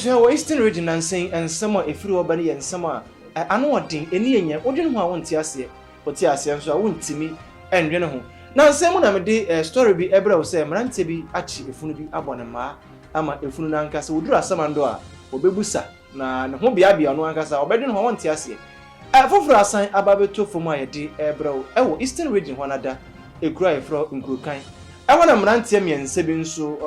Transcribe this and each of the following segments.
Hwɛ, wɔ Eastern Region nnansa yi, nsɛm a ɛfiri hɔ ba no yɛ nsɛm a ano yɛ den, ani yɛ nyɛ, wodwene ho a wonte aseɛ, wote aseɛ nso a wontumi nnwene ho. Nnansa yi mu na mede story bi brɛ wo sɛ mmeranteɛ bi akye efunu bi abɔ ne mmaa ama efunu no ankasa, wɔduru asamando a, ɔbɛbu sa na ne ho beabea ɔno ankasa, ɔbɛdwene ho a wonte aseɛ. Ɛfoforɔ asan aba abɛtɔ fam a yɛde rebrɛ wo wɔ Eastern Region hɔ no ada, ɛkuro a yɛfrɛ hɔ Nkurokan. Ɛhɔ na mmeranteɛ mmiɛnsa bi nso,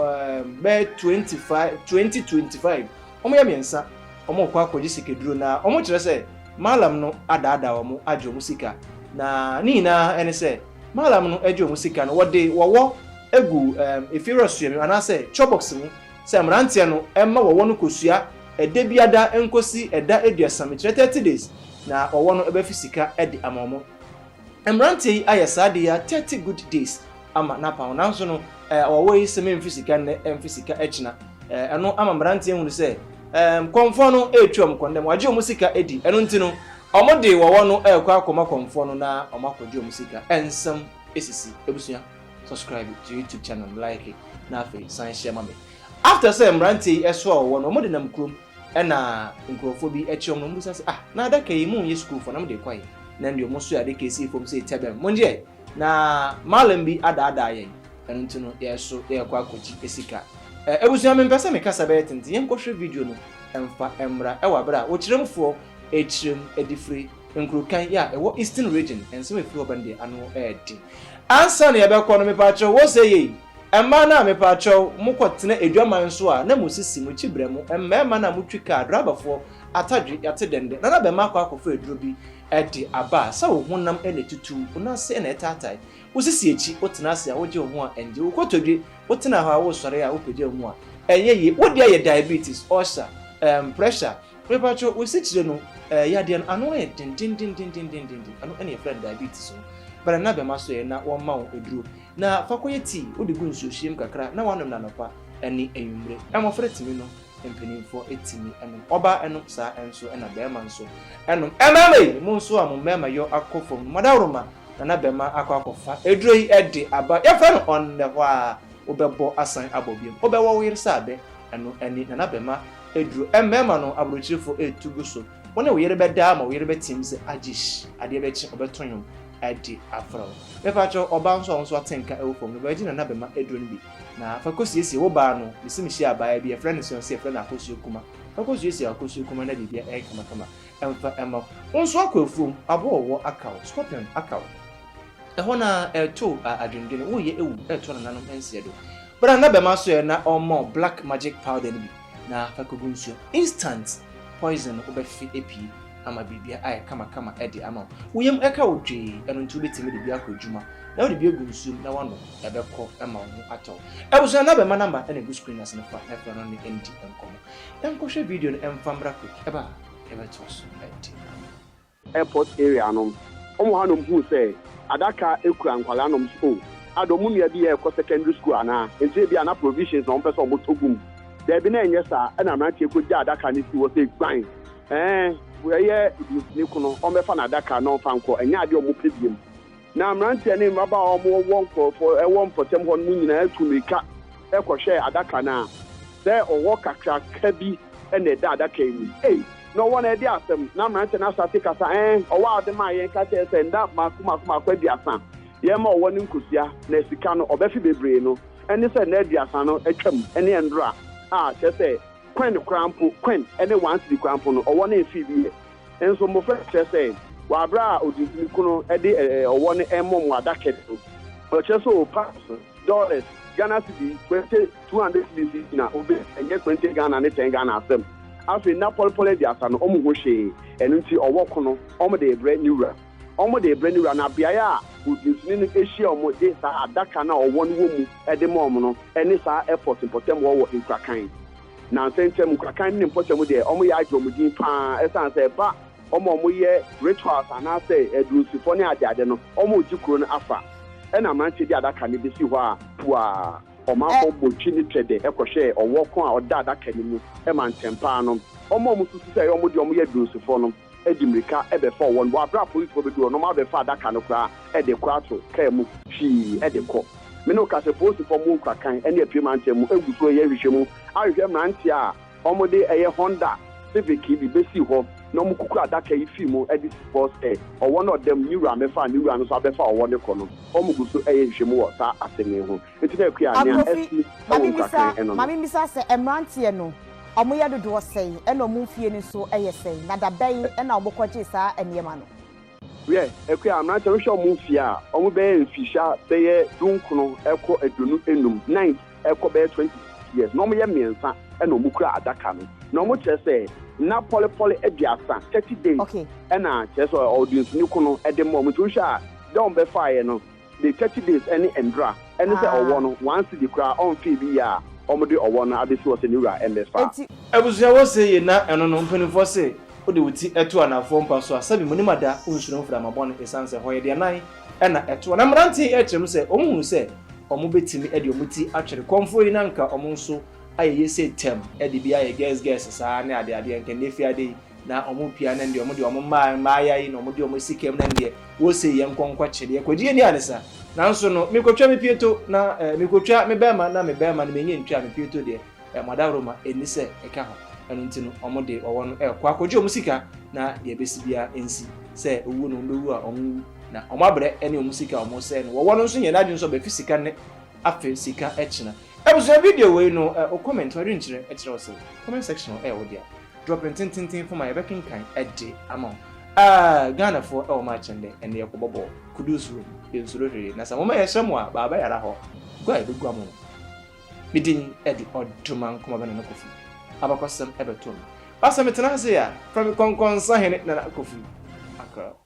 bɛyɛ twenty five, twenty twenty five, wɔyɛ mmiɛnsa, wɔrekɔ akɔgye sikaduro na wɔkyerɛ sɛ Mallam no adaadaa wɔn agye wɔn sika. Na ne nyinaa ne sɛ Mallam no gye wɔn sika no, wɔde wɔwɔ gu efiewura suamu anaasɛ chore box mu. sɛ mmeranteɛ no mma wɔwɔ no kosua ɛda biada nkosi ɛda aduasa mekyerɛ thirty days na wɔwɔ no bɛfi sika de ama ɔmo mmeranteɛ yi ayɛ saa de ya thirty good days ama napa ho nanso no ɛɛ wɔwɔ yi sɛ memfi sika nnɛ ɛmfi sika ɛkyina ɛɛ ɛno ama mmeranteɛ ehunu sɛ ɛɛ kɔnfoɔ no ɛɛtu ɔmo kɔndɛm wagye ɔmo sika ɛdi ɛno nti no ɔmo de wɔwɔ no ɛɛkɔ akɔma kɔnfoɔ no na ɔmo akɔgye ɔmo sika ɛnsɛm ɛsisi ebusua. subscribe to youtube channel m like na afei san hyɛ ma me after sɛ mmeranteɛ yi ɛso a wɔwɔ no wɔde nam kurom ɛna nkurɔfoɔ bi ɛkyerɛ wɔn na wɔbisa sɛ ah na adaka yi mu nyɛ sukuufoɔ na wɔde kɔ yi na deɛ wɔn so yɛ adaka esi fam sɛ ɛtɛ bɛn mo nyɛ na maalam bi adaadaa yɛn ɛno nti no yɛso yɛkɔ akɔgye esika ɛɛ ebusua mi mpɛ sɛ mi kasa bɛyɛ tenten yɛn kɔhwɛ video no ɛnfa ɛmra ɛwɔ abere a wɔkyerɛmfoɔ ɛkyerɛm ɛdifire Nkurotan yi a ɛwɔ Eastern Region, nsɛm a efi hɔ ba no deɛ, ano yɛ den. Ansa na yɛbɛkɔ no, mepaakyɛw, wose yei, mmaa no a mepaakyɛw mokɔtena adwaman so a na mosisi mo kyi brɛ mo mmarima no a motwi kaa, drabafoɔ, atadwe, yɛate dɛndɛn, na na bɛmma akɔ akɔfa aduro bi de aba a, sɛ wo honam na etutu, wo nan ase na ɛtaatae, wosisi akyi, wotena ase a, wogye wo ho a, ɛngye, wo kotodwe, wotena hɔ a, wosɔre a, wopagya wo mu a, ɛnyɛ yie, wo deɛ yɛ diabetes, ulcer, ɛɛm, pressure, Mepakyɛw, wo sikyire no, eh, yadeɛ no, ano yɛ den dendendendendenden, ɛno na yɛfrɛ no diabetes no. Bra na bɛma so ɛ, na wɔmma wo aduro. Na fa kɔyɛ tea, wode gu nsuohyeɛ mu kakra na woanom no anɔpa ne anwummere. Mmɔfra tumi nom, mpanimfoɔ tumi nom. Ɔbaa nom saa ara nso na barima nso nom. Eh, mmarima yi, mo nso a mo mmarima yɔ akɔ fam no, moadaworoma, na na bɛma akɔ akɔfa aduro yi de aba. Yɛfrɛ no ɔnnɛhwaa. wobɛbɔ asan abɔ biom. Wobɛwɔ wo yere sɛ abɛ. Ɛno ɛne Nana Bɛma aduro. Mmarima no, aburokyirefo retu gu so. Wo ne wo yere bɛda ama wo yere bɛteam sɛ agyish, adeɛ bɛkye, ɔbɛto nnwom de afrɛ wo. Mepakyɛw, ɔbaa nso a wo nso ate nka ɛwɔ fam no, bɛgye Nana Bɛma aduro no bi na fa kɔsiesie wo baa no. Mesi mehyiaa abaayewa bi, yɛfrɛ no Seonse, yɛfrɛ no Akosua Kuma. Fa kɔsiesie Akosua Kuma na biribiara ayɛ kamakama. mfa mma wo. Wo nso akɔ afuom, aboa a ɔwɔ akaw, scorpion, akaw. Ɛhɔ no ara, ɛreto a, adwendwene, woreyɛ awu, ɛreto nananom nseɛ do. Bra na bɛma so ɛ, na ɔmma wo black magic powder no bi, na fa kɔgu nsuo mu. Instant poison no wobɛfe apue ama biribiara ayɛ kamakama de ama wo. Wo yam ka wo dwee, ɛno nti wobɛtumi de bi akɔ adwuma, na wode bi agu nsuo mu na woanom, ɛbɛkɔ ma wo ho atɔ wo. Abusua no abɛma number na ɛgu screen no ase no, fa na frɛ no ne ndi nkɔmmɔ. Yɛnkɔhwɛ video no mfa mmra quick ɛba a yɛbɛtoa so adi no. Airport area nom ɔmo hanom huu sɛ adaka kura nkwadaa nom so oh ada ɔmo nua bi ɛɛkɔ secondary school anaa nti ebia na provisions na ɔmo pɛ sɛ ɔmo tɔ gum daabi na ɛnyɛ saa ɛna mmeranteɛ kɔ gyaa adaka no sii hɔ sɛ guan ɛɛ ɛyɛ ne kunu ɔmmɛfa n'adaka na ɔmfa nkɔ ɛnyɛ adeɛ ɔmo pɛ biom. Na mmeranteɛ ne mmabaa a wɔwɔ nkurɔfoɔ wɔ mpɔtam hɔ no mu nyinaa tu mmirika kɔhwɛɛ adaka no a sɛ ɔhɔ kakraka bi na ɛda adaka yi mu. Ei, na ɔwɔ no ɛde asɛm! Na mmeranteɛ no ahyɛ ase kasa, Ɛɛ, ɔwɔ ade maa yɛn ka kyerɛɛ sɛ nna mmaako mmaako mmaako aduasa yɛmma ɔwɔ no nkosua, na sika no ɔbɛfe bebree no, ɛne sɛ nna aduasa no atwam ne ɛndora a, kyerɛ sɛ, coin koraa mpo, coin ne one cedi koraa mpo no, ɔwɔ no mfee bi ɛ. Nso mmofra no kyerɛ sɛ wɔ bere a ɔdesani ko no de ɔwɔ no rebɔ mmoada kɛse no, ɔkyerɛ sɛ oh, pounds, dollars, Ghana cedi, kwerente, two hundred cedis yi na ɔbɛyi, ɛnyɛ kwerente Ghana ne ten Ghana asɛm. Afei nna pɔlepɔle aduasa no, wɔn ho hwee, ɛno nti ɔwɔ ko no, wɔde rebrɛ ne wura. Wɔde rebrɛ ne wura, na beae a ɔdesani no hyia wɔn de saa adaka no a ɔwɔ no wɔ mu de ma wɔn no ne saa airport mpɔtam hɔ wɔ Nkurakan. Nnansa ntam, nkorakan no ne mpɔtam deɛ, wɔyɛ ara gye wɔn din pa ara ɛsiane sɛ ɛba wɔn a wɔyɛ rituals anaasɛ adunsifɔ ne adeade no, wɔregye kuro no afa. Ɛna mmeranteɛ de adaka no bɛsi hɔ a, puaa, ɔmanfoɔ bɔ twi ne twɛdɛ kɔhwɛ ɔwɔ ko a ɔda adaka no mu ma ntɛmpaa no. Wɔn a wɔsusu sɛ ɛyɛ wɔn deɛ wɔyɛ adunsifɔ no, de mmirika bɛfɔɔ wɔn, bɔ aberɛ a polisfoɔ bɛduru hɔ na wɔn abɛfa adaka no koraa de kɔ ato kaa mu hwii de kɔ. Me ne wo ka sɛ polisfoɔ mmo nkura kan ne apue mantam mu ngu so reyɛ nhwehwɛmu ahwehwɛ mmeranteɛ a wɔn de ɛyɛ Honda Civic yi bi bɛsii hɔ na wɔn kukura adaka yi fii mu de sii hɔ sɛ ɔwɔ no ɔdam ne wura mɛfa a ne wura no nso abɛfa ɔwɔ no kɔ no, wɔn gu so reyɛ nhwehwɛmu wɔ saa asɛm yi ho. Enti na akua a nea Akofi, asi ma wɔ mimisa, nkuratwɛn ɛno ma no. mimisa sɛ mmeranteɛ no, wɔyɛ dodoɔ sɛn, ɛna wɔn mfie no nso yɛ sɛn, na da bɛn na wɔkɔgyee saa nneɛma no? Hwɛ, akua a mmeranteɛ no, hwɛ wɔn mfie a wɔbɛyɛ mfirihyia bɛyɛ dunkono kɔ aduonu nnum, ninth kɔ bɛyɛ twenty six years, na wɔyɛ mmiɛnsa na wɔkura adaka no, na wɔkyerɛ sɛ nna pɔlepɔle aduasa, thirty days, Okay. ɛna kyerɛ sɛ ɔde nsu ne kono de ma wɔn, nti wohwɛ a, da wɔn bɛfaeɛ no, de thirty days ne ndra ɛne sɛ ɔwɔ no one cedi koraa ɔnfee bi yɛ a ɔmo de ɔwɔ no abesi hɔ sɛ ne wura ɛmɛfa. Abusua wɔ se ye na ɛno no mpaninfoɔ se wode wo ti to anafoɔ mpa so a sɛbi monim ada wonsuro mframa bɔne esiane sɛ hɔ yɛ deɛ nan na ɛtoɔ na mmeranteɛ yi ɛkyerɛ mu sɛ ɔmo hunu sɛ ɔmo bɛtumi de ɔmo ti atwere kɔmfoɔ yi na nka ɔmo nso ayɛ ye se tɛm de bi ayɛ gɛs gɛs saa ne adeadeɛ nka nnɛ fiade yi na ɔmo pia no ndeɛ ɔmo deɛ ɔmo mmaa mmaa ya yi na ɔmo deɛ ɔmo si kɛm no ndeɛ wɔsei yɛn nkɔ nkɔ kye deɛ kɔ gye yɛ ni anisa nanso no mi kotwa mi pie to na ɛɛ eh, mi kotwa mi bɛrima na mi bɛrima no mi nye ntwa mi pie to deɛ ɛɛ eh, mo adaworo ma ɛni sɛ ɛka ho ɛno nti no ɔmo de ɔwɔ no ɛɛkɔ akɔgye ɔmo sika na deɛ ɛbɛsi bia ɛnsi sɛ owuo no ɔmo bɛwu a ɔmo wu na ɔmo abrɛ ɛne ɔmo sika ɔmo sɛ no wɔwɔ no nso nyɛ n'adwene nso ɔbɛfi sika ne afe sika ɛkyina abusua video wei no ɛ eh, o comment ɔdwenkyerɛ ɛkyerɛ ɔsɛ comment section ɛ eh, ɔdeɛ Drop ntententen fam a yɛbɛkenkan de ama wo. Aah Ghanafoɔ ɛwɔ mu akyɛn dɛ, ɛnde yɛkɔbɔ bɔɔl, Kudus room, yɛnsuro hwee, na sɛ momma yɛnhyɛ mo a, baa bɛyara hɔ, gua a yɛbɛgua mo no, me din de Ɔdomah Nkrumah Nana Kofi, abakɔsɛm bɛto me, ba sɛ metena ase a, frɛ me Kɔnkɔnsahene Nana Kofi Akrel.